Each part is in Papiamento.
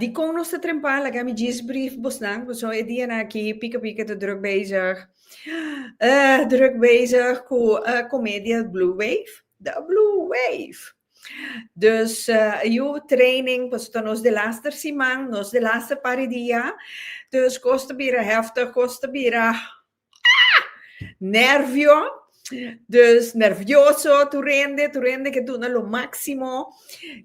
Dikon nos ta trempa laga mi djis briefbusnan pasobra e dianan aki pika pika ta druk bezig druk bezig ku e komedia Blue Wave The Blue Wave dus yu training pasobra ta nos de laster siman nos de laster par e dia dus kos ta bira heftig kos ta bira Ah! Nervio. Dus nervioso tur hende, tur hende ke duna lo máksimo.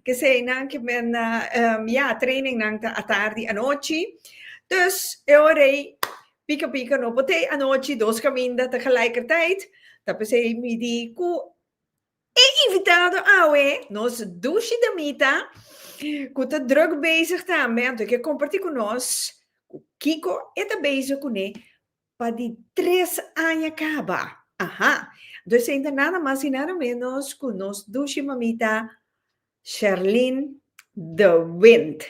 Keseinan ke men a, ya, trainingnan ta atardi, anochi. Dus e ora ei pika pika no pot'é anochi, dos kaminda ta gelijkertijd. Ta p'esei mi di ku. E invitado awe, nos dushi damita cu ta druk bezig tambe, anto e ke comparti cu nos cu kico e ta bezig cune pa di tres aña caba. Aha! Anto esei ta nada mas y nada menos cu nos dushi mamita. Sherlyn de Wint.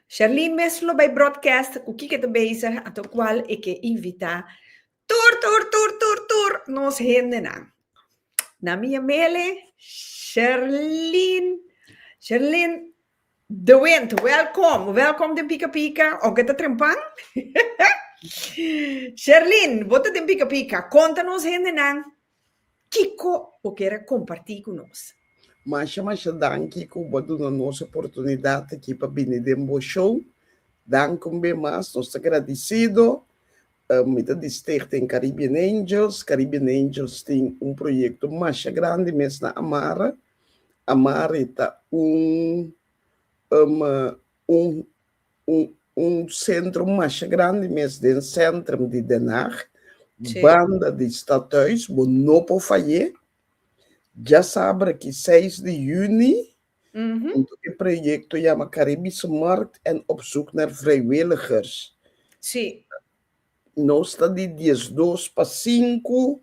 Sherlyn mes lo bay broadcast cu kiko ta bezig ato cual e ke invita tur tur tur tur tur nos hendenan. Na mi Yamele Sherlyn Sherlyn de Wint welcom welcom den Pika Pika of ke ta trempan Sherlyn bo ta den Pika Pika conta nos hendenan Kiko bo ker a kompartí ku nos? Masha masha danki ku bo a duna nos oportunidat aki pa bini den bo show. Danki un be mas, nos ta gradisido. Mi ta di Stichting Caribbean Angels. Caribbean Angels tin un proyekto masha grandi mes na Amari. Amari ta un un sentrum masha grandi mes den centrum di Den Haag, banda di Stadhuis, bo no por fayé. Dja sabra ki seis di juni, huntu ku e proyekto yama Karibische Markt en Op Zoek Naar Vrijwilligers, nos ta di diesdos pa sinku,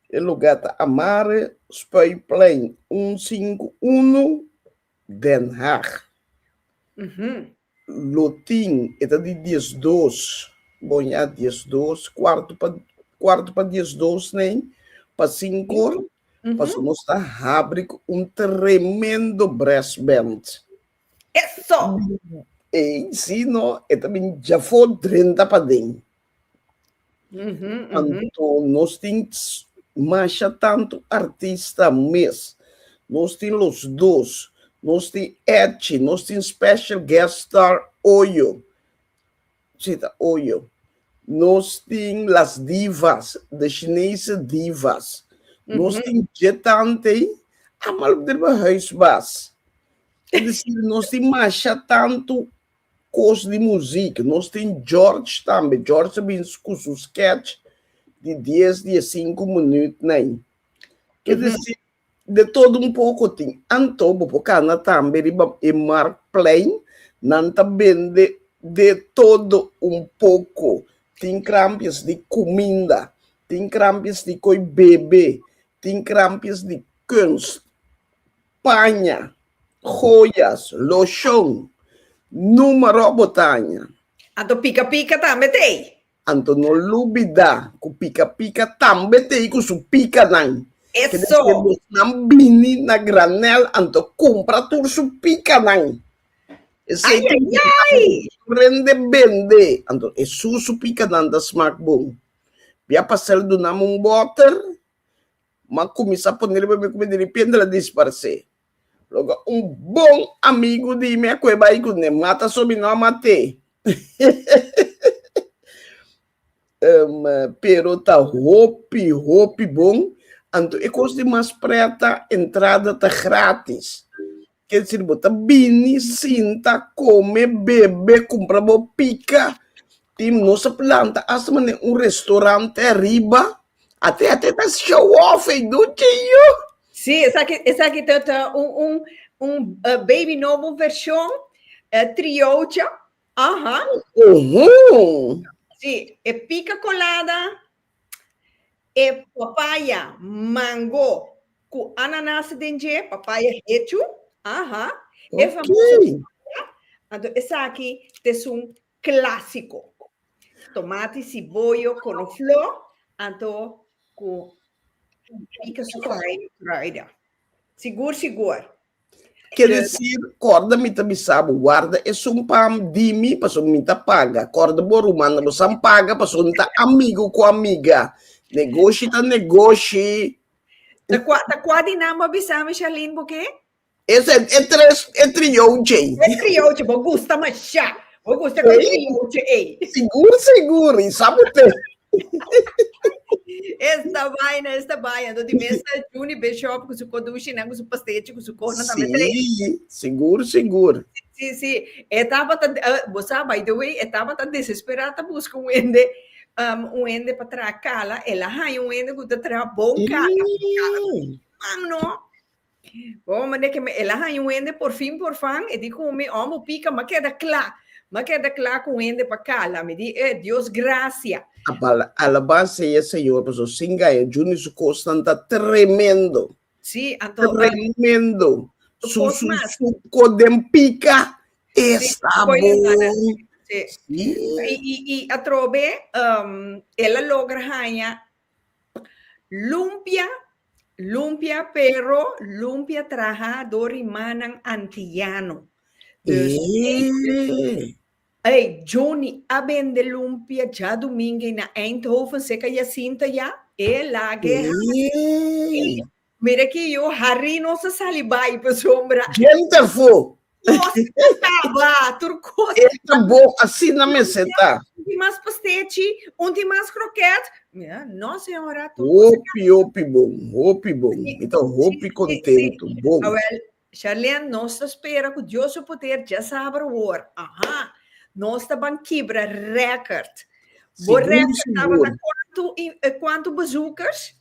e lugá ta Amare, Spuiplein un sinku unu, Den Haag. Lo tin, e ta di dies dos, boña dies dos, kuartu pa kuartu pa dies dos nei, pa sinkor, pasobra nos ta habri ku un tremendo brass band. Eso! Ei, si no, e ta bin djafó drenta paden. Mm -hmm, Anto nos tin masha tanto artista mes. Nos tin los dos. Nos tin Edchi, nos tin special guest star Oyo. Sita Oyo. Nos tin las divas, de Chinese divas. Mm -hmm. Nos tin jetante, amal driba huisbas. Es decir, nos tin masha tanto Kos di muzik, nos tin George tambe, George ta bin ku su sketch di dies, di e sinku minüt na ei. Ke desi, de todo un poko tin. Anto bo por kana tambe riba e Marktplein, nan ta bende de todo un poko. Tin krampies di kuminda, tin krampies di koe bebe, tin krampies di kunst. paña, joyas, loshon, numero bo ta haña. Anto pica pica tambe ta ey. Anto no lubida cu pica pica tambe ta ey cu su picanan. Eso. Kende cu esnan bini na granel anto cumpra tur su picanan. Esey ta ayayay. Prende bende anto e su su picanan ta smaak bon. Bia pa hacer el dunami un boter m'a kuminsá pone riba mi ku mi diripiente el a disparsé. Loke un bon amigu di mi a kue bai ku ne, mata so mi no a mat'é. um, pero ta hopi, hopi bon, anto e kos di mas prèt ta entrada ta grátis. Quiere decir bo ta bini, sinta, come, bebe, cumpra bo pica. Tin nos a planta hasta manera un restaurante ariba. Ate ate ta show off ey do tjio. Sí, esaki esaki ta ta un un un baby nobo version triocha, aha. Uhumm. Sí, e pica colada. E papaya, mango cu ananas den dje, papaya hechu, aha, e famoso papaya, anto esaki ta es un clasico. Tomati, ciboyo, conoflor, anto cu pica su kruiden. Sigur sigur. Ke desir kòrda mi ta bisa bo warda esun pam di mi paso mi ta paga. Kòrda bo rumannan lo san paga paso no ta amigu ku amiga. Negoshi ta negoshi. Ta kua ta kua di nan bo a bisa mi Sharlene bo ke? Esa e tres e trioche. E trioche bo gusta masha. Bo gusta ku e trioche ey. Sigur sigur i sa bo te. Esta vaina, esta vaina. Doti mesa Juni Bishop ku su kodushi nan ku su pastechi ku su kona tambe tre. Sí, sigur, sigur. Sí, sí. E tabata, uh, eh, bosa, by the way, e tabata desesperada ta buska un ende, um, un ende pa traha kala. E la haña un ende ku ta traha bon kala. Mm. Kala, man no. Bo manda e keme, el a haña un hende por fin por fan, e di ku mi, oh, bo pika, m'a keda kla, m'a keda kla ku un hende pa kala. Mi di, eh, Dios grasia. Alabá sea Señor, pasobra sin gaya Jun y su cosnan ta tremendo. Sí, anto. Tremendo. Su, su, su coden pica está bon. Sí. Y, y, y atrobe, um, él logra haña Lumpia, lumpia pero lumpia traha do rimanan antiano. Dus Eey! Ey, Johnny a bende lumpia djadumingue na Eindhoven, seka Jacinta ya, e lage Eey! Mira ki yu Harry no sa sali bai pa su hombra. Ken ta fo? Nos ta kaba tur kos. E ta bo asina mester ta. Un tin mas pastechi, un tin mas kroket. Mira no señora tur kos ta kaba. Hopi hopi bon, hopi bon. Mi ta hopi kontentu, bon. Awel, Sharlene nos ta spera ku Dios su poder dje saber awor. Aha. Nos ta ban kibra record. Bo Sigur record sigur. tabata kuantu i kuantu bezoekers?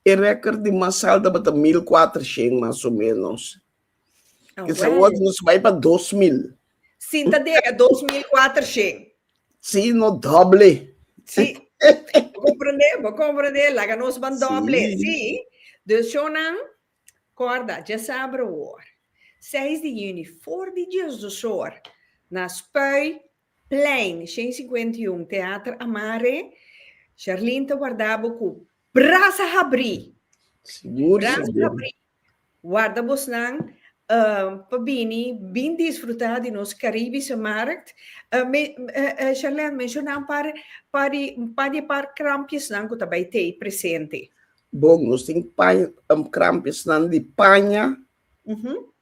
E record di mas sal tabata mil kuatrashens mas o menos. Oh, Kisa well. wot nos bai pa dos mil. Sinta dega dos mil kuatrashens. Si no doble. Si. Bo comprende, bo comprende. Laga nos ban doble. Si. Si. Dus shownan, korda, dje sabra awor. Seis di yüni, for di djesdosor, na Spui, Plein, Shen Cincuenta y Un, Teater Amare, Sherlyn ta warda bo cu brasa habri! Sigur, brasa sigur. habri! Warda bosnan uh, pa bini bin disfruta di nos Caribische Markt. Uh, me, uh, uh, Sherlyn, menciona un par, par di, un par di par krampjesnan cu ta bay tei presente. Bon, nos tin paña, um, krampjesnan di paña, uh -huh.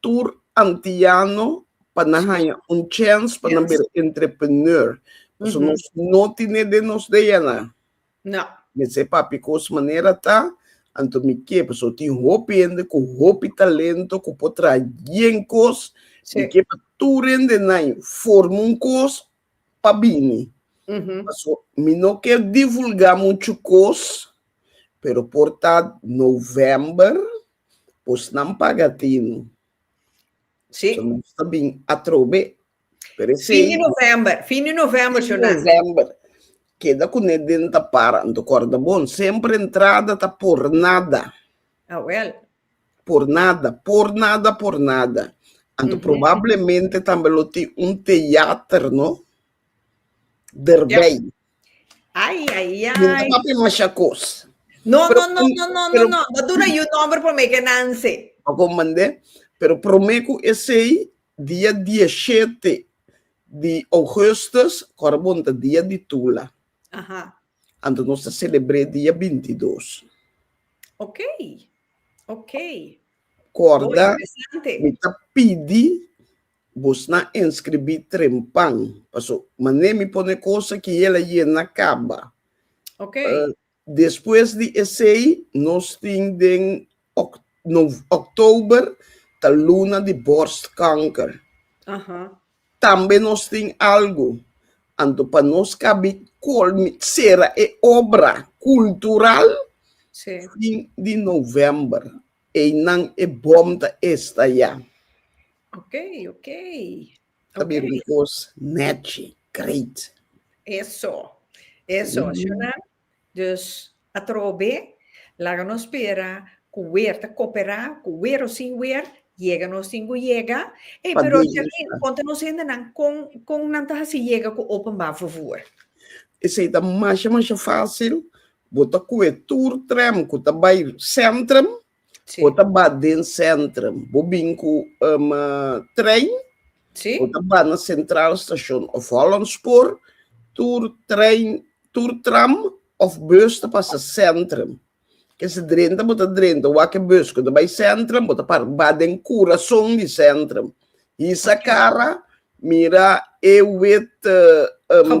tur antiano pa nan haña un chèns pa nan bira entrepreneur. Pasobra nos no tene den nos DNA. No. Mi sey papi kos manera ta, anto mi ke, pasobra tin hopi hende ku hopi talento ku por traha yen kos. Mi ke pa tur hende nan forma un kos pa bini. Pasobra mi no ker divulgá muchu kos, pero por ta novèmber, Pues nan paga tino. Sí. So nos ta bin atrobe. Pero es Fin di seis november, fin di november, Fin Jonan. november. Keda ku ne den ta para. Nto korda bon. Semper entrada ta por nada. Ah, wel. Por nada. Por nada, por nada. Anto Mhm. probablemente tambe lo tin un teater, no? Derbij. Ay, ay, ay. Mi no papi masha cos. No, pero, no, no, no, no, pero, no, no. Dat una you number por me que nanse. Pa comandé. Pero prome cu esei dia 17 di augustus, cora bonta dia di tula. Aha. Anto nos ta celebré dia 22. Ok, ok. Corda, mi ta pidi Busna enskribí trempan, paso mané mi pone kosa ki el a yena kaba. Ok. Despues di esei nos tin den Oktober ta luna di borstkanker. Aha. Tambe nos tin algu. Anto pa nos kabi kolmi sera e obra kultural fin di November. Einan e bom ta esta ya. Ok, ok. Ta bira un cos nechi, great. Eso, eso. Mm. Shona, dus atrobe, laga nos spera cu weer ta copera, cu weer o sin weer, yega nos tin cu yega. Ey, Pa pero Charlene, Diosnan. conta nos hendenan con, con nan ta haci yega cu openbaar vervoer? Esey ta masha, masha facil, Bo ta cu e tur tren cu ta bay centrum, bo ta ba den centrum. Bo bin cu um trein, bo ta ba na centraal station of Hollandspoor, tur trein, tur tram of bus ta pasa centrum. Kese drenta bo ta drenta wak e bus cu ta bay centrum, bo ta para ba den curason di centrum. Hisa cara, mira e wit um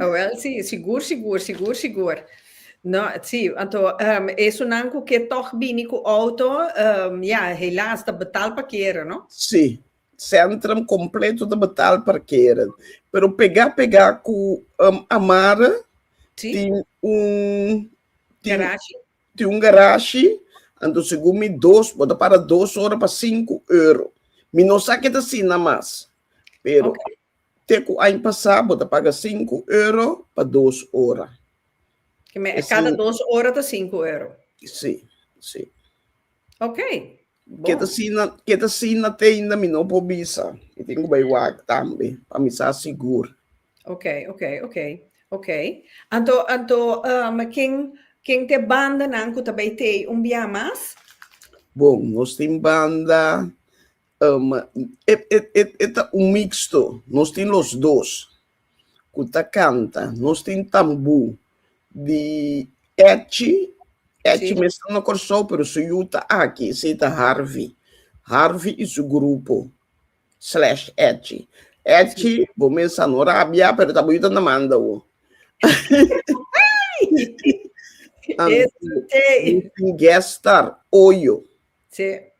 Awel si, sigur sigur, sigur sigur. No, si, anto esunnan cu ke tog bini cu auto, ya, helaas, ta betal parkeren, no? Si, centrum completo ta betal parkeren, pero pega pega cu Amara tin un garashi, anto segun mi dos, bo ta para dos ora pa sinku euro. Mi no sa ke ta asina mas, pero Te ku aña pasá bo ta paga sinku euro pa dos ora. Ki mester kada dos ora ta sinku euro? Sí, sí. Ok, bon. Ke ta sina, ke ta sina teinda mi no por bisa. Mi tin ku bai wak tambe, pa mi sa sigur. Ok, ok, ok, ok. Anto, anto, um, ken, ken te bandanan ku ta bai tei un biaha mas? Bon, nos tin banda, Um, e, e, e, e ta un mixto. Nos tin los dos cu ta canta. Nos tin tambú di Echi. Echi sí. mesmo na Corsou, pero su yu ta aki. Sí, ta Harvey. Harvey y su grupo. Slash Echi. Echi, sí. bo mesa no rabia, pero ta bonita na manda wo. Este. Guest star, oyo. Sí.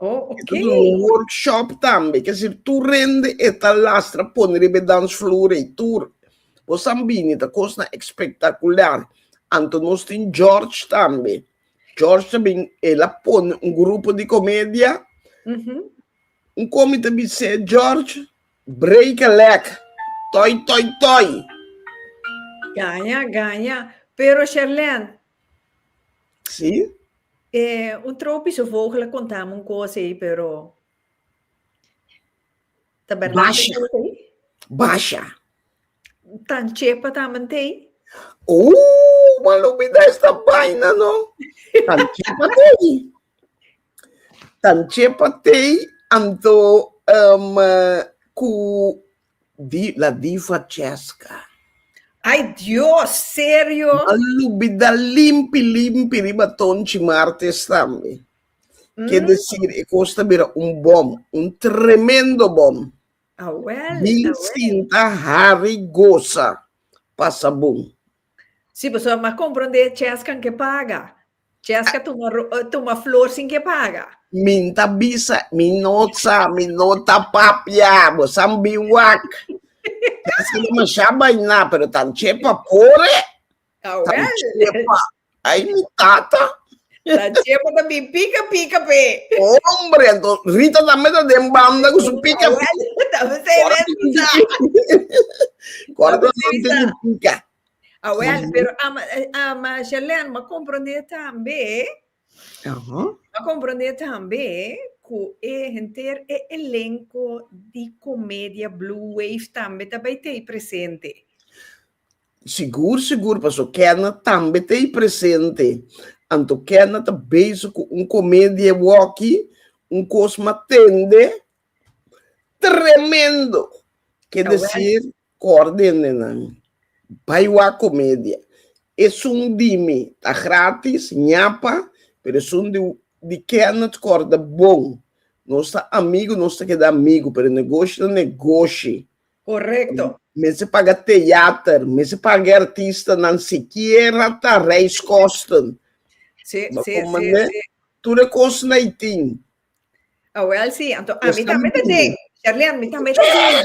Oh, okay. Dit is un workshop tambe, que si tu rende eta lastra pone riba dansvloer ei tur. Vos san bini, ta cosna espectacular. Anto nos tin George tambe. George tambe, el a pone un grupo di comedia. Mm -hmm. Un comi ta bise George, break a leg, toy, toy, toy. Ganya, ganya. Pero Sherlene, Sí? E un tropische vogel a konta mi un kos ei, pero ta bèrdat e Basha. kos ei? Basha. Tan chepa tambe te ei? Ooh, man lo bida esta baina no. Tan chepa tei. Tan chepa tei, anto um, eh, ku Di la diva Chesca. Ay Dios serio? Malubi da limpi limpi riba tonchi martes tambe. Ke desir e kos ta bira un bom, un tremendo bom. Awel, Bin awel. sinta, hari, gosa, pasa bon. Si boso a comprende Chesca ke paga. Jessica tuma tuma flor sin ke paga. Min ta bisa, min no sa, min no ta papia, bo san biwak. Jessica de masha baina, pero tan chepa pore. Awel. Tan chepa. Ay mi tata. Tan chepa ta bi pika pika pe. Hombre, ento Rita tambe ta den banda ku su pika. Awel, tambe se mesa. Kora ta pika. Awel, pero a, a Marjolaine ma comprende tambe, Aha. ma comprende tambe ku e henter e elenco di comedia Blue Wave tambe ta bay tei presente. Sigur, sigur, paso Kenna tambe tei presente. Anto Kenna ta bezig ku un comedia waki, un kos ma tende tremendo. Ke Awel. desir, Cordenennan, Bai wak comedia. Esun di mi ta gratis, ñapa, pero esun di di Kenneth corda bon. Nos ta amigo, nos ta keda amigo, pero negoshi ta negoshi. Correcto. Mester paga theater, mester paga e artistanan sikiera ta reiskosten. Si, Bo si, si, comprende? si. Tur e cosnan ei tin. Awel si, anto ami Mester tambe ta tin. den, Sherlyn, mi tambe ta den.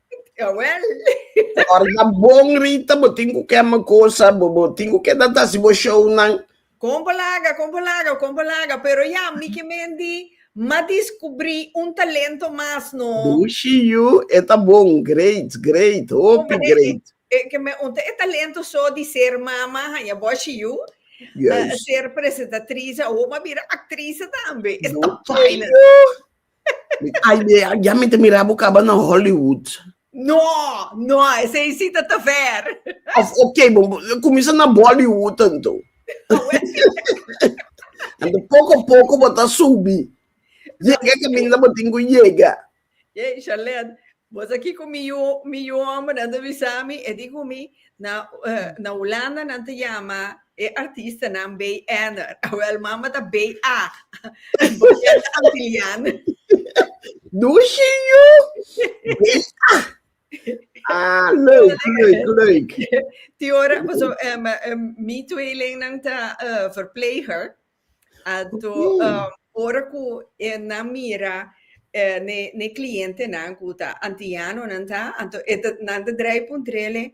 Jawel. Ora ta bon Rita, bo tin ku kema kosa, bo bo tin ku keda ta si bo show nan. Kon bo laga, kon bo laga, kon bo laga, pero ya mi ke mendi ma diskubri un talento mas no. Dushi yu, e ta bon, great, great, hopi great. E ke me unta e talento so di ser mama haña boshi yu, ser presentatriz, awo bo a bira aktrise tambe. E ta paina. ya mi ta mira bo kaba na Hollywood. No, no, esei si ta ta ver. Of, ok, bo kuminsa na Bollywood anto. Anto poko poko bo ta subi. Yega e kaminda bo tin ku yega. Yey, Sharlene, bo sa kiko mi yu mi yu ombernan ta bisa mi? E di ku mi, na Hulanda nan ta yama E artistanan bay èner. Awèl mama ta bay ag. Boyènt ta antilian. Dushi yu! Bay ag! Ah, leuk, leuk, leuk. Die ora, paso, um, um, mi tweelingnan ta uh, verpleger. Ato, um, ora ku e na mira eh, ne, ne cliente nan ku ta antiano nan ta, anto e ta, nan ta draai puntrele,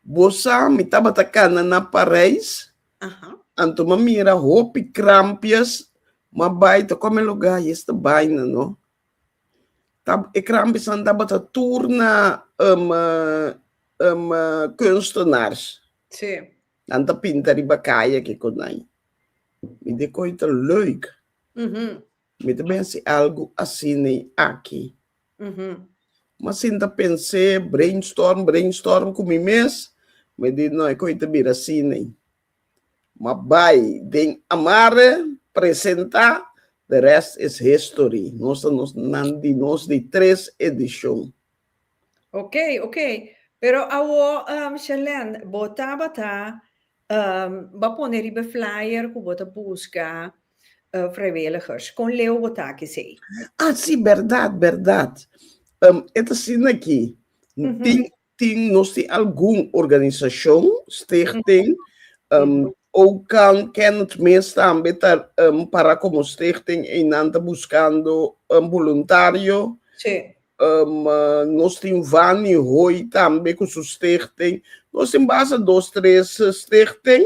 Bo sa, mi tabata kanda na Parijs, anto mi a mira hopi krampias, mi a bai ta kome lugá i es ta bai nan, no. Ta, e krampiasnan tabata tur na kunstenaars. Nan ta pinta riba kaya, kiko nan. Mi dikó i ta leuk. Mi ta mester algu asina aki. Mi sinta pens'é, brainstorm, brainstorm ku mi mes, mi di no e kos ta bira asina. Ma bai den amar'é, presentá, the rest is history. Nos ta nos nan di nos di tres edishon. Oke, oke. Pero awor, Shelène, bo tabata Bo a pone riba e flyer ku bo ta buska vrijwilligers. Kon leu bo tak esei? Ah, si, bèrdat, bèrdat. E ta asina aki, tin, tin, nos tin algun organisashon, stichting, Oukan, Kenneth mes tambe ta para komo stichting ei nan ta buskando boluntario. Si. Um, nos tin Vani Hoy tambe cu su stichting. Nos tin basa dos, tres eh, stichting.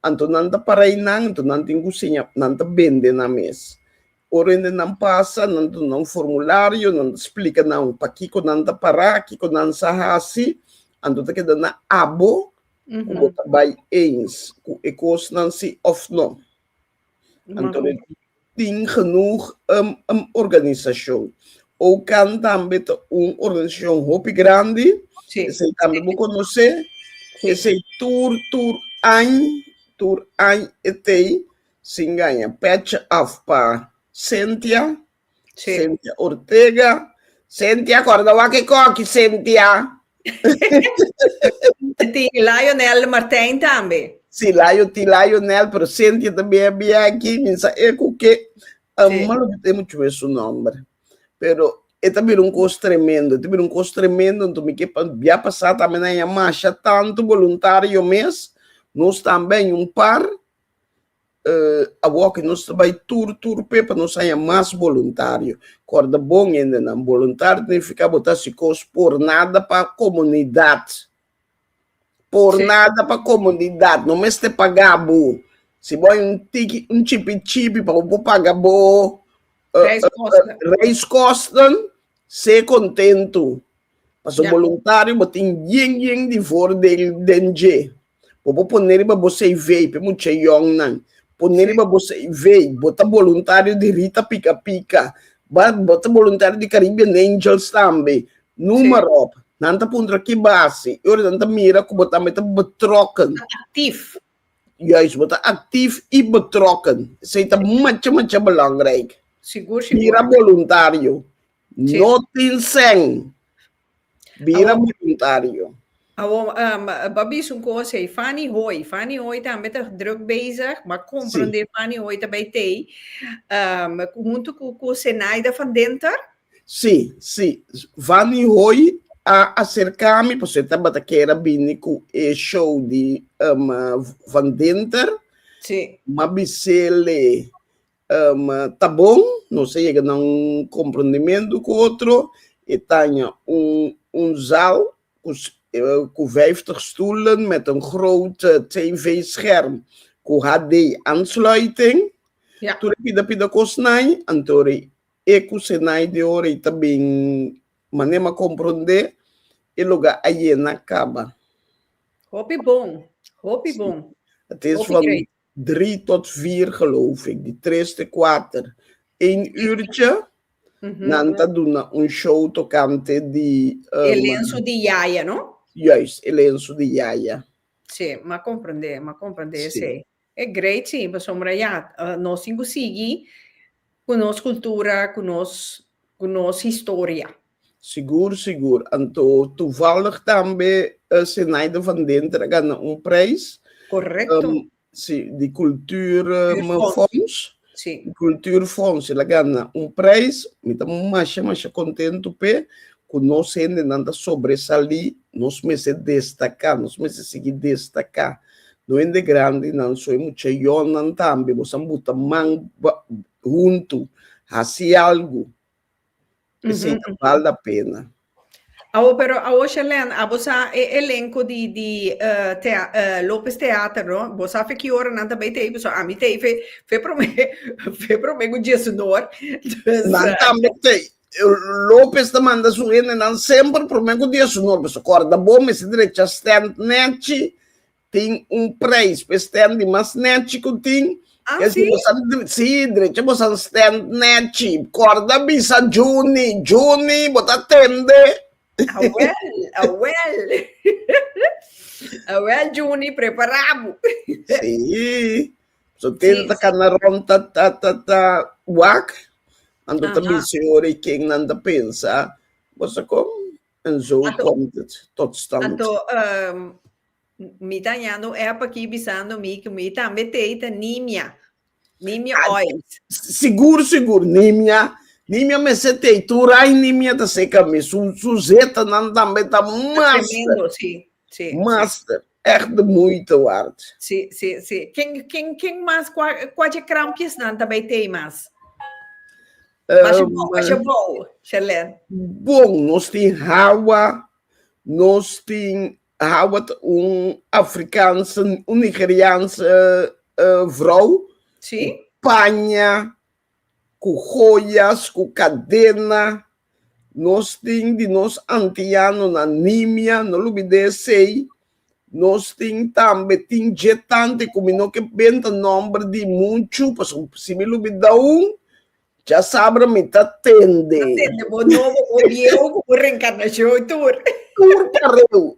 Anto nan ta para y nan, anto nan tin cu siña, nan ta bende nan mes. Orende nan pasa, nan ta duna un formulario, nan ta splica nan pakico nan ta para, kico nan sa haci, anto ta keda na abo cu bo ta bay eens cu e cosnan si of no. Anto mi tin genoeg um, um organisacion. OCAN tambe ta un organisacion hopi grandi, Sí. esei tambe bo conoce, Sí. esei tur, tur añ, tur añ etei, sin gaña pecha af pa Cynthia, Sí. Cynthia Ortega. Cynthia, corda wa que coqui, Cynthia. Ti Lionel Martijn también. Sí, Lion, ti Lionel, pero Cynthia también había aquí. Minsa e cu que, sí. malo que te mucho es su nombre. Pero e también un cos tremendo, e también un cos tremendo, entonces mi que ya pasar también a llamar, ya tanto voluntario mes, nos también un par, Awor ki nos ta bai tur tur p'e pa nos haña mas boluntario. Kòrda bon hendenan, boluntario ta nifiká bo ta hasi kos por nada pa komunidat. Por nada pa komunidat, no mester pagá bo. Si bo bai un tiki, un chipi chipi pa bo por paga bo reiskosten, se kontentu. Pasobra boluntario bo tin yen yen di vordel den dje. Bo por pone riba bo CV, pe mucha young nan, pone riba bo CV, bo ta voluntario di Rita Pika Pika, bo ta voluntario di Caribbean Angels tambe, noem maar op. Nan ta puntra ki base, y ora nan ta mira cu bo tambe ta betrokken. Actief. Juist, bo ta actief y betrokken. Esey ta macha macha belangrijk. Sigur, sigur. Bira voluntario. No tin seng. Bira Awo- voluntario. Awo, um, Bobby is un cosa ei. Fanny Hoy. Fanny Hoy tambe ta druk bezig, maar comprende Fanny Hoy ta bij Tei. Um, junto cu, cu Zenaida van Denter. Sí, sí. Fanny Hoy a acerca mi, pues esta bata kera bini ku e show di um, Van Denter. Sí. Ma bisele Ta bon, nos a yega na un komprondementu ku otro. E taña un zaal ku vijftig stoelen met een groot tv-scherm ku HD-aansluiting. Tur e pida pida kosnan, anto rei e ku senai di ora ei ta bin manema komprondé, e lugá a yena kaba. Hopi bon, hopi bon. Hopi grei. Drie tot vier geloof ik, di tres te kuater, een uurtje. Nan ta duna un show tokante di. E lensu di Yaya, no? Juist, e lensu di Yaya. Sí, m'a komprendé, m'a komprendé esei. E great sí, pasobra ya, nos tin ku sigui Ku nos kultura, ku nos ku nos historia. Sigur, sigur. Anto tuvallig tambe e Sinaida van Denter a gana un prijs. Correcto. Si, di kultur fonds. Si. Di kultur fonds. El a gana un prijs. Mi ta masha, masha kontentu p'e. Ku nos hendenan ta sobresalí. Nos mester destaká. Nos mester sigui destaká. No hende grandi nan so e mucha yolnan tambe bo san buta man huntu hasi algu esey ta bal da pena. Awo pero awo Shelène abo sa e elenco di di Lopez Theater no bo sa fe ki ora nan ta bay tey paso ami tey fe prome fe prome cu Jesunor nan tambe tey Lopez ta manda su hendenan semper prome ku diasnor. Pasobra kòrda bo, mester drecha stènt nèchi. Tin un preis pa e stènt di mas nèchi ku tin. Así? Si bo sa sí, drecha bo sa stènt nèchi. Kòrda bisa Juni. Juni, bo ta tende? Awèl, awèl. Awèl Juni, prepará bo. Sí. So tenta ta cana rond ta ta ta ta wak. Ando ta Aha. bisi ori ken nan ta pensa. Bosa kom? En zo Ato- komt het tot stand. Ato, ehm, mi ta hañando un app aki bisando mi que mi tambe tei ta nimia. Nimia Ah, oil. Sigur, sigur, nimia. Nimia me se te turai nimia ta seca mi. Su, su zeta nan tambe ta mas. Tremendo, sí. Sí, Master, sí. echt de moeite waard. Sí, sí, sí. Ken, ken, ken mas, kua, kua dje krampjesnan ta bay tey mas? Um, Masha bo, masha bo, Sherlyn. Bon, nos tin hawa, nos tin hawa ta un Afrikaanse, un Nigeriaanse uh, vrouw. Sí. Paña, Cu joyas, cu cadena. Nos tin di nos antianonan nimia, no lubidé esey. Nos tin tambe, tin dje tante cu mi no ke benta nomber di muchu, pasobra si mi lubida un, dja sabra mi ta tende. Ta tende bo nobo, bo bieu, cu bo reencarnacion tur. Tur pareu.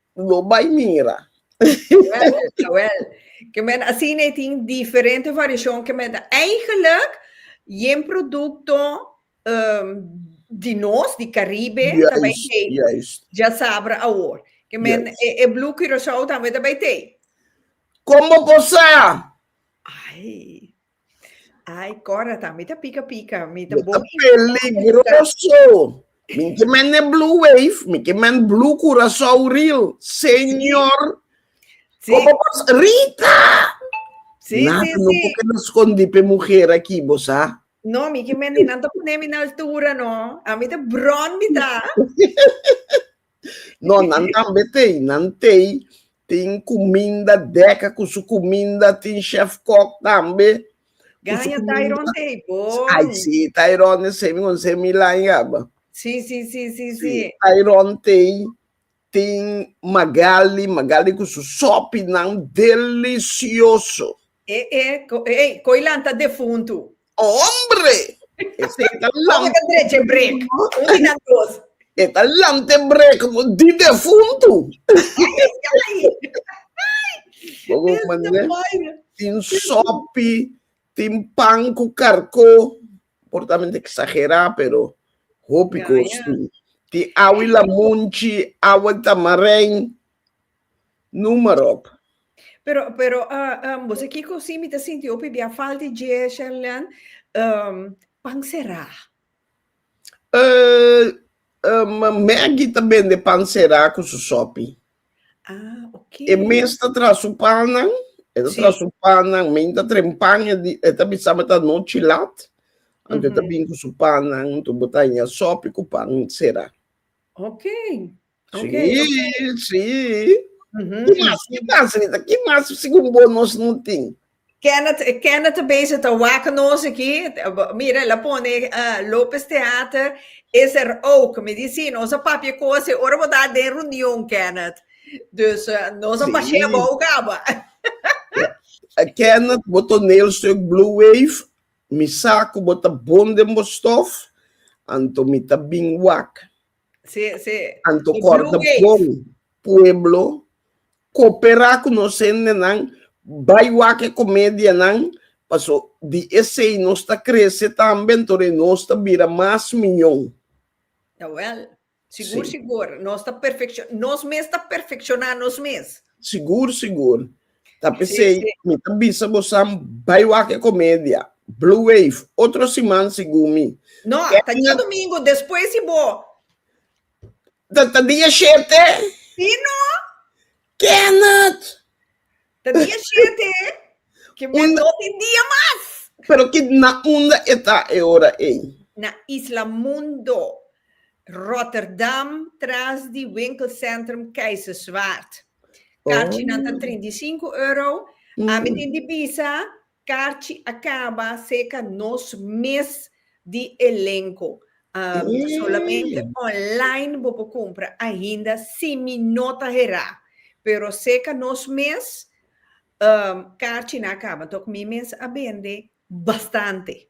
Lo bai mira. Jawel, jawel. Ke men asina e tin diferente variashon ke men ta Eigenlijk yen produkto di nos, di Karibe, ta bai tei. Juist. Dja sabra awor. Ke men e Blue Curacao tambe ta bai tei. Kon bo por sa? Ai. Ai, Cora ta, mi ta pica pica, mi ta bon info. Peligroso! Mi ki men e Blue Wave, mi ki men Blue Curaçao Reel, señor! Sí. Como vos, Rita! Sí, Nada, sí, no sí. porque no escondí pe mujer aquí, vos sa. No, mi ki men di nan ta pone mi na altura, no. A mi ta bron mi ta. No, nan tambe tei, nan tei. Tin kuminda deka ku su kuminda, tin chef kok tambe. Ganja Tairon tei po. Ai si, Tairon e semi kon se mi lañaba. Si, si, si, si, si. Tairon tei, tin Magali, Magali ku su sopi nan delisioso. E, e, e, koi lanta defuntu. Hombre! Esei ta Como te dreche break? Un di nan dos. E ta lante brek di defuntu. Bobo Esa mané ta baira. tin sopi, tin pan ku karkó, por ta mente eksagerá pero hopi Ya, kos ya. tin. Tin awa i lamunchi, awa i tamarein. Numerop. Pero, pero, ah, ah, bo sa kiko si mi ta sinti hopi bia falta di dje, Sherleann? Um, pan será. Eh, um, Maggie ta bende pan será ku su sopi. Ah, ok. E mes ta tra su pannan, e ta Sí. tra su pannan, men ta tren pan, e di- e ta bisa me ta no chilat. Anto e ta Mhm. bin ku su pannan, tu botanya sopi ku pan será. Ok. Si, si. Ki mas, ki mas, Rita? Ki mas segun bo nos no tin? Kenneth, Kenneth ta bezig ta wak nos aki. Mira, el a pone uh, Lopez Theater is er ook. Mi di si, nos a papia cos e ora bo ta den reunion, Kenneth. Dus uh, nos a Si. pasea bou caba. Eh, Kenneth, bo toneelstuk Blue Wave, mi sa cu bo ta bon den bo stof, anto mi ta bin wak. Sí, sí. Anto corda bon pueblo coopera cu nos hendenan bai wak e comedianan paso di esey nos ta crece tambe antori nos ta bira mas miyon. Jawel, sigur sigur. Nos ta perfecciona, nos mes ta perfecciona nos mes. Sigur sigur. Ta pesei, mi ta bisa bosan bai wak e komedia. Blue Wave, otro siman segun mi. No, ta dia domingo despues di bo. Ta ta dia shete? Si no. Kenneth! Ta dia shete, ke men Un- no tin dia mas. Pero ki na unda e ta e ora ei? Na Isla Mundo, Rotterdam, tras di winkelcentrum Keizerswaard. Karchinan ta trinta i sinku euro. Ami tin di bisa karchi a kaba serka nos mes di elenko. Ta solamente online bo por kumpra ainda si mi no ta herá. Pero serka nos mes karchinan a kaba. Tok mi mes a bende bastante.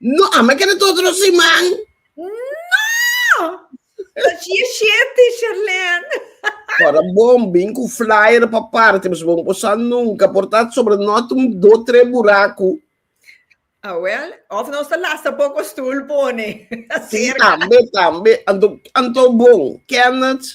No, ama keda ta otro siman. No! Ta shie sheti, Sherlene. Ora bon bin cu flyer pa parti, pues bon posa nunca por ta sobre not un do tre buracu. Ah, well, of nos ta lasta poco stoel pone. Si, tambe, tambe. Anto, anto bon, Kenneth.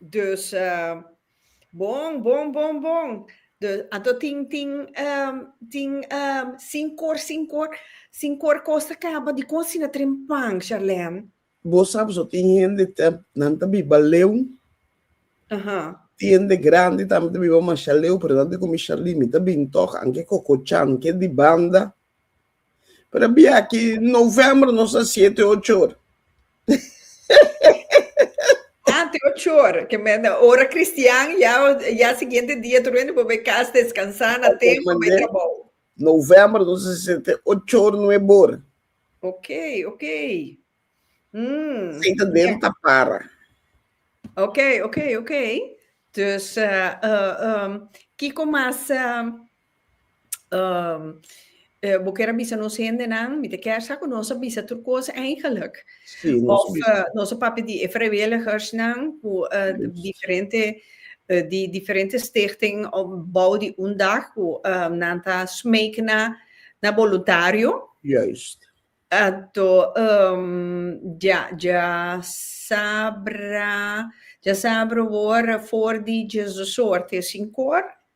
Dus bon bon bon bon dus anto tin tin tin sin cor sin cor sin cor cos ta caba dicon asina ta tren pan Sharlene? Bo sa boso tin hende ta nan ta biba leu tin hende grandi tambe ta biba masha leu pero nan ta comi Sharlene mi ta bin tok anke cococan ke di banda. Pero bia ki novembro nos a siete ochor. Ante ochor, que me ora cristian ya ya siguiente dia tu rende bobe cas descansar na tempo be trabajo. Novembro nos a siete ochor nuebor. Okay, okay. Mm. Senta dentro ta para. Okay, okay, okay. Dus uh, uh, um, Kiko mas uh, Um, uh, bo kier a bisa nos hendenan, mi te kier sa ku nos a bisa tur kosa eigenlijk. Sí, nos Of uh, nos a papia di e vrijwilligersnan ku uh, diferente uh, di diferente stichting op bouw di un dag ku um, nan ta smeek na na voluntario. Juist. Ato um, ja ja sabra ja sabra wor voor di Jesus soort is in kor.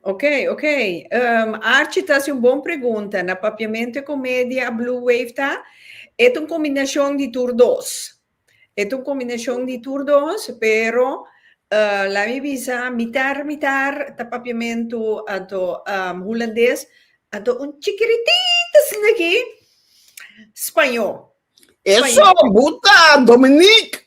Ok, ok. Um, Archie ta haci un bon pregunta. Na papiamento e comedia a Blue Wave ta, et un combinacion di tur dos. Et un combinacion di tur dos, pero uh, laat me bisa, mitar, mitar ta papiamento ato um, Hulandes, ato un chikiritito asina aki, Spañó. Eso, Spañó. buta, Dominique!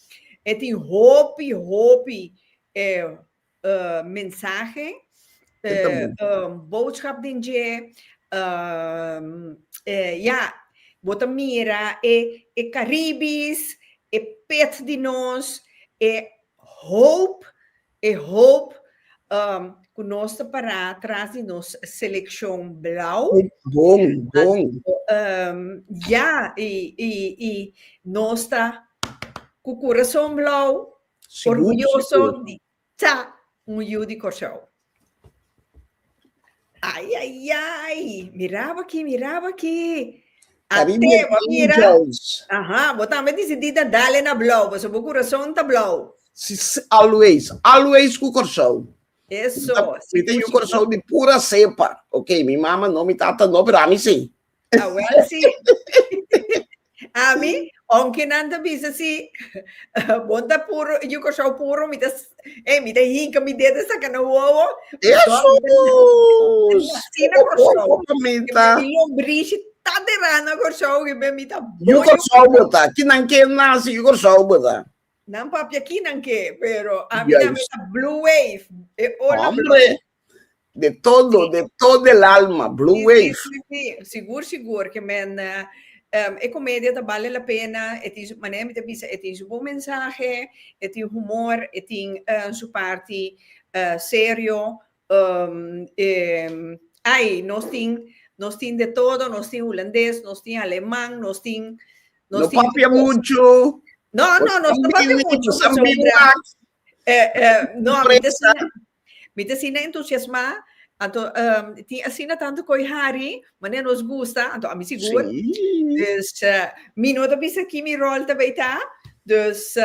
E tin hopi hopi mensahe, boodschap den dje. Ya, bo ta mira e Caribis, e pet di nos, e hoop E hoop ku nos ta pará tras di nos selekshon blau. Bon, bon. Ya, i, i, i nos ta ku kurason blau, orguyoso di ta un yu di Kòrsou. Ay, ay, ay. Miraba aquí, miraba aquí. Abi mi Ateo, mira. angels. Aha, bo tambe decidida dale na blauw, paso bo corazón ta blauw. Si, si, always, always cu Curaçao. Mi Eso, ta, si mi ta yu puchi. Curaçao di pura cepa. Ok, mi mama no, mi tata no, pero ami si. A wel si. Ami, onki nan ta bisa si bo ta puru, yu Kòrsou puru, mi ta, eh, mi ta hinka mi dedo e saka na wowo. Jesus! Asina Kòrsou. Mamita. I lombrishi ta derá na Kòrsou, riba mi ta bo Yu Kòrsou bo ta, kinan ke nasi yu Kòrsou bo ta. Nan papia kinan ke, pero ami Yes. nan mi ta blue wave, e ola Hombre, blou. De todo, de todo el alma, Blue Wave. Sí, sí, sí, sigur, sigur, ke men um, e komedia ta bale la pena, e tin su, manera mi ta bisa, e tin su bon mensahe, e tin humor, e tin uh, su parti uh, serio, um, um, ai, nos tin, nos tin de todo, nos tin hulandes, nos tin aleman, nos tin... Nos no tin papia mucho. No, no, nos no papia mucho. Nos no papia mucho. Eh, eh, no, mi te Mi ta asina entusiasmá, anto tin asina tantu koi hari, manera nos gusta, anto ami sigur. Dus mi no ta bisa ki mi ròl ta bai ta, dus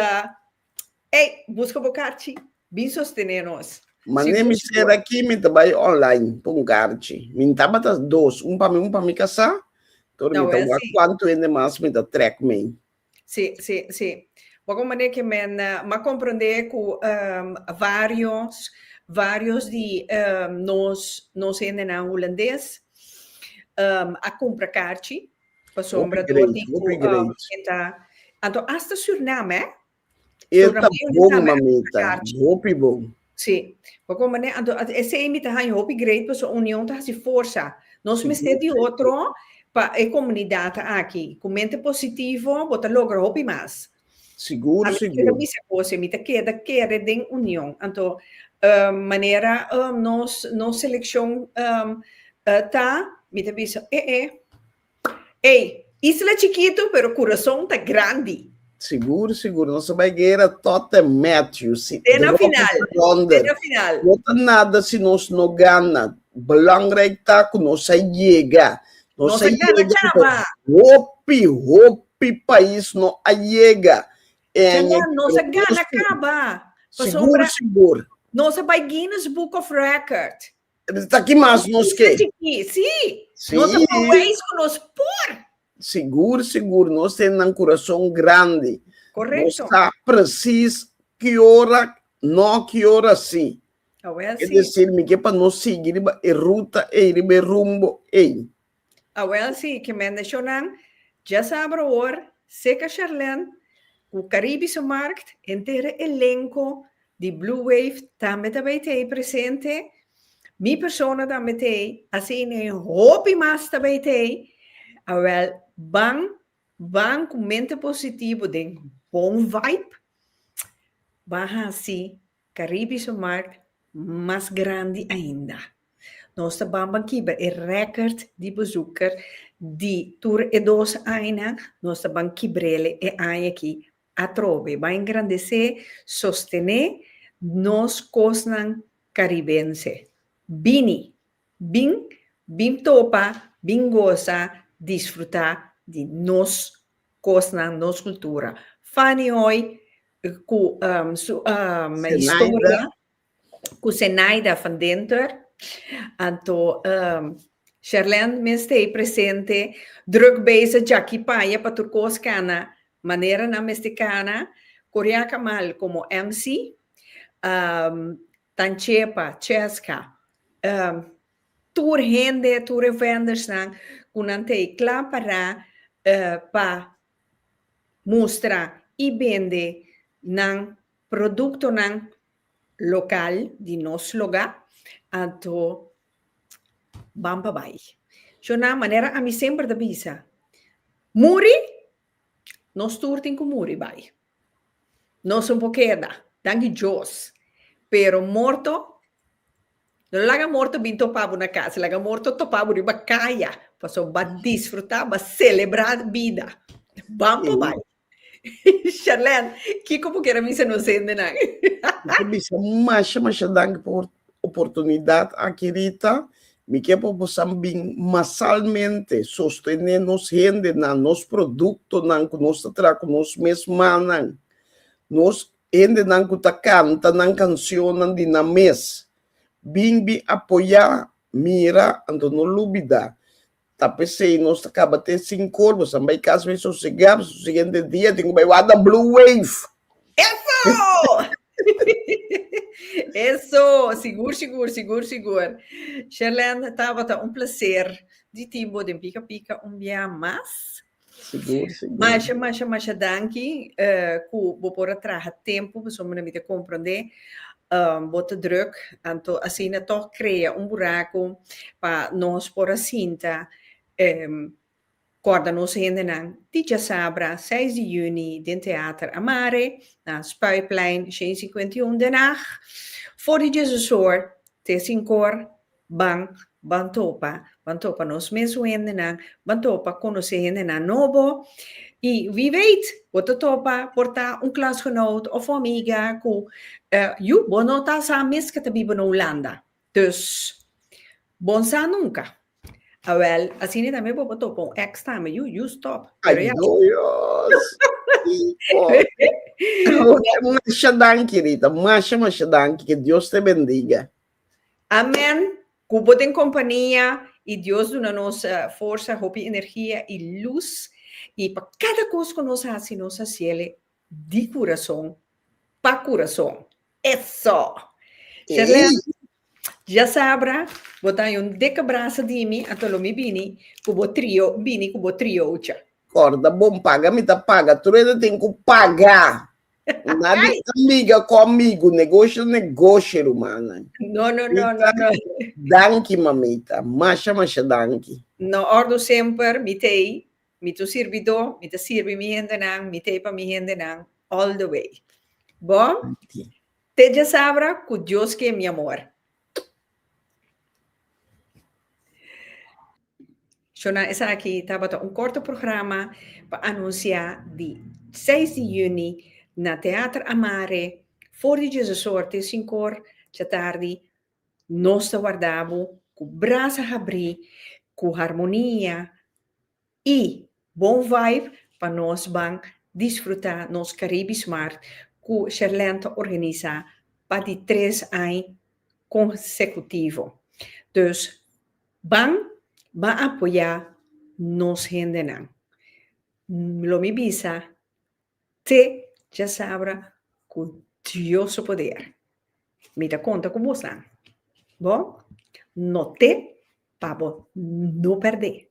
ey buska bo karchi bin sostené nos. Manera mi ser aki mi ta bai online pa un karchi, mi tabata dos, un pa mi un pa mi kasá, pero mi ta wak kuantu hende mas mi ta trèk mei. Sí, sí, sí. Bo con manera que men ma comprende cu ehm varios, varios di ehm nos, nos hendenan Hulandes ehm a cumpra carchi pasobra dor di cu ehm e ta, anto hasta Suriname eh. Hopi great, hopi great. Suriname ta carchi. Hopi bon, mamita, hopi bon. Sí. Papo manera anto esei mi ta haña hopi great paso union ta hasi forsa. Nos mester di otro pa e comunidad aki. Cu mente positivo bo ta logra hopi mas. Sigur sigur. Ami ta keda bisa cose, mi ta keda kere den union. Anto manera nos seleccion ta, mi ta bisa e e. Ey, isla chikitu pero kurason ta grandi. Sigur sigur nos ta bai guera tot en Matthew si Te na final, te na final. No ta nada si nos no gana, belangrijk ta ku nos a yega, nos a yega ku hopi hopi pais no a yega en e Nos a gana kaba pasobra nos a bai Guinness Book of Record. Ta ki mas nos ke. Sí, nos ta por wees ku nos por. Sigur, sigur, nos ten nan kurason grandi. Korekto. Nos sa presis ki ora no, ki ora sí. Awel sí. E desir mi ke pa nos sigui riba e ruta ei, riba e rumbo ei. Awel si ke mendeshonan dja sa abro awor, Seka Charlène ku Karibi su Markt, entera elenko di Blue Wave tambe ta bai t'ei presente. Mi persona tambe t'ei, asina e hopi mas ta bai t'ei. Awel ban ban ku mente positivo den bon vibe, ban hasi Caribe su markt mas grandi ainda. Nos ta banban kiba e record di bezoeker di tur e dos añanan, nos ta ban kibrele e aña aki atrobe. Bai engrandece, sostene nos kosnan caribense. Bini! Bin, bin topa, bin goza, disfruta di nos Kosnan nos kultura. Fanny Hoy ku su historia ku Zenaida van Dinter. Anto Sherlend mi stay presente druk bezig djaki paya pa tur kos kana manera nan mester kana. Korea Kamal komo MC. Tanchepa, Cheska, ehm, tur hende, tur e vendersnan ku nan ta e kla pará pa mustra i bende nan produktonan lokal di nos lugá, anto ban pa bai. Shon nan, manera ami semper ta bisa, muri, nos tur tin ku muri bai. Nos no por keda, danki Djos. Pero morto, no laga morto bin topa bo na casa, laga morto topa bo riba caya, pasobra ba disfruta, ba celebra bida. Ban pa bai. Sharlene, kico bo kier a bisa nos hendenan? Bo ta bisa masha, masha danki por oportunidad aki Rita, mi ke pa bosan bin masalmente sostene nos hendenan, nos productonan cu nos ta traha cu nos mes mannan, nos hendenan cu ta canta nan cancionnan di nan mes, bin, bin apoya, mira, anto no lubida Ta pesey nos ta caba te sin corbo san bay cas bay sosega p'es su siguiente dia tin cu bay wak na blue wave. Eso! Eso! Sigur, sigur, sigur, sigur. Sherlene, tabata un placer di tin bo den Pika Pika un bia mas. Sigur, sigur. Masha, masha, masha danki eh, ku bo por a traha tempu, pasobra mi ta komprondé eh, bo ta drùk. Anto asina tòg krea un buraku pa nos por a sinta eh, kòrda nos hendenan di djasabra seis di yüni den Teater Amare, na Spuiplein honderdcincuentaun, Den Haag, for di djezesor te sinkor. Ban ban topa ban topa nos mesun hendenan ban topa konosé hendenan nobo i wi weit bo ta topa por ta un klasgenoot òf un amiga ku yu bo no ta sa mes ke ta biba na Hulanda dus bon sa nunka awèl asina tambe bo por topa un ex tambe yu yu stòp pero ya Ajo Dios ki fòrti. Masha danki Rita, masha masha danki ke Dios te bendiga. Amen cu bo den compania y Dios duna nos forsa, hopi energia y luz y pa cada cos cu nos haci nos haciele di curason pa curason eso! Sherlene ya sabra bo ta ayon deka brasa di mi ato lo mi bini cu bo trio bini cu bo triocha. Corda bon paga mi ta paga truedo tin cu paga. Nadi amiga ku amigu, negosho negosho rumana. No no no no no. Danki mamita, masha masha danki. No ordu semper mi t'ei, mi t'un sirbidó, mi ta sirbi mi hendenan, mi t'ei pa mi hendenan all the way. Bo te dja sabra ku Dios ke mi amor. Shona esaki tabata un corto programa pa anuncia di seis di juni na Teater Amare for di Jesu Sorte sinkor cha tardi. Nos ta warda bo cu brasa habri, cu harmonia y bon vibe pa nos ban disfruta nos Caribis Mart cu Sherlène ta organisa pa di tres aña consecutivo. Dus Ban ba apoyá nos hendenan. Lo mi bisa te djasabra ku Dios su poder. Mi ta konta ku bosnan. Bo no te pa bo no pèrdè.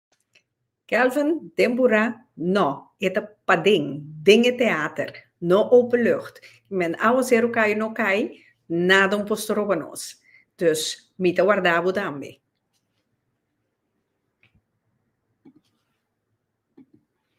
Kelvin den Burá, No, e ta paden, den e teater, no openlucht. Men awo ser u kai o no kai, nada un por stroba nos. Dus mi ta warda bo tambe.